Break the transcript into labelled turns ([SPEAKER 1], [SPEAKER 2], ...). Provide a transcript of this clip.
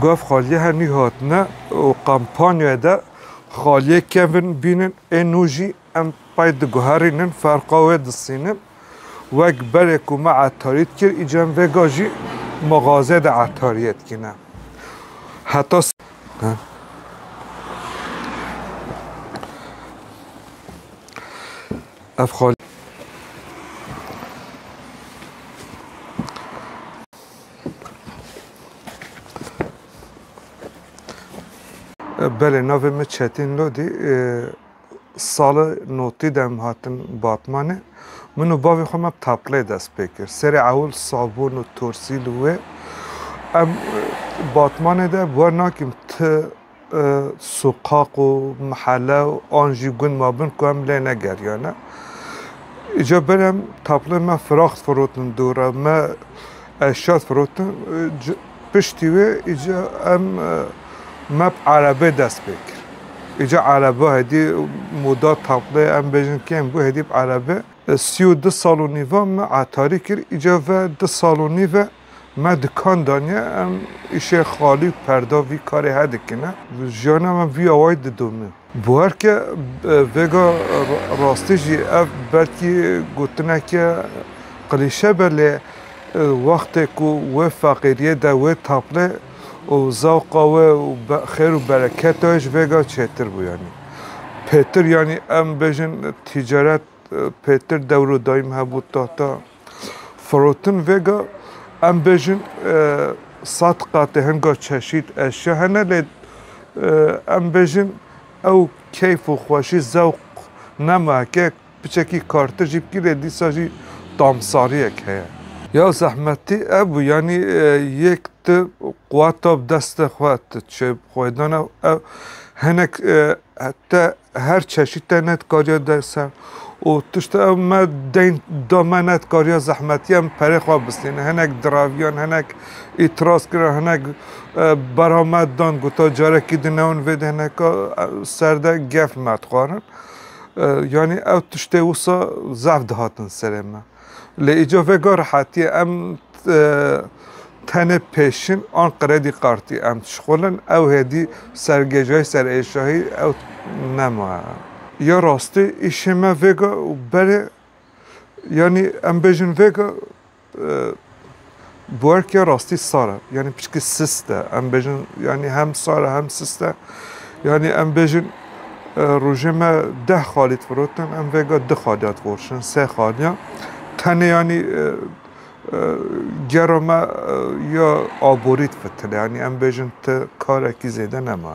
[SPEAKER 1] Gav xaliyê her nû hatine û kampanyayê de xaliyê kevin bînin ê nû jî em pey diguherînin ferqa wê disînin. Wek berê ku me etarî dikir îcar em vê ga jî mixazeyê de etariyê dikine. Heta Ev xal. Belê navê min Çetîn Lodî sali notî de em hatin Batmanê. Min û bavê xwe me taplê dest pê kir. Serê ewil sabûn û torsîl û wê em Batmanê de bi we nakîm ti soqaq û mihele an jî gund mabin ku em lê negeriyane. Îcar berê em taplên me firax difirotin dûr re, me eşya difirotin. Piştî wê îcar em me bi erebeyê dest pê kir. Îcar ereba hêdî moda taplê em bêjin kêm bû hêdî bi erebê. Sî û du sal û nîva me etarî kir. Îcar ve du sal û nîv e. Me dikan daniye em îşê xalî û perda vî karê he dikine. Jiyana me vî awayî didomî. Bi her ke vêga rastî jî ev belkî gotineke qilîşe be lê wextê ku wê feqîriyê de wê taplê û zewqa wê û xêr û bereketa wê ji vêga çêtir bû yanî. Pêtir yanî em bêjin tîcaret pêtir dewr û dayîm hebû tahta. Firotin vêga em bêjin sat qatê hinga çeşît eşya hene lê em bêjin ew keyf û xweşî zewq nema heke piçekî kartir jî bikî lê dîsa jî tamsariyek heye. Ya zehmetî ev bû yanî yek tu quweta bi destê xwe tu çêbixwedana ew hinek Te her çeşî te nedikarîya de ser û tişta ew me deyn da me nedikarîya zehmetiya min perê xwe bistîne. Hinek diraviyan, hinek îtiraz kirin, hinek berha me dan gota carekî di newin vê de hineka ser de gef me dixwarin. Yanî ew tiştê wisa zehf dihatin serê me. Lê îco vega rehetiyê em tenê pêşin an qredî kartî em dişixulin ew hêdî ser gêjayî ser êşahî ew nema. Ya rastî îşê me vêga û berê yanî em bêjin vêga Buerkê rastî sar e. Yanî piştî sist e. Em bêjin yanî hem sar e hem sist e. Yanî em bêjin rojê me deh xalî difirotin em vêga du xaliya divorşin sê xaliya. Tenê yanî gera me ya aborî difitine yanî em bêjin ti karekî zêde nema.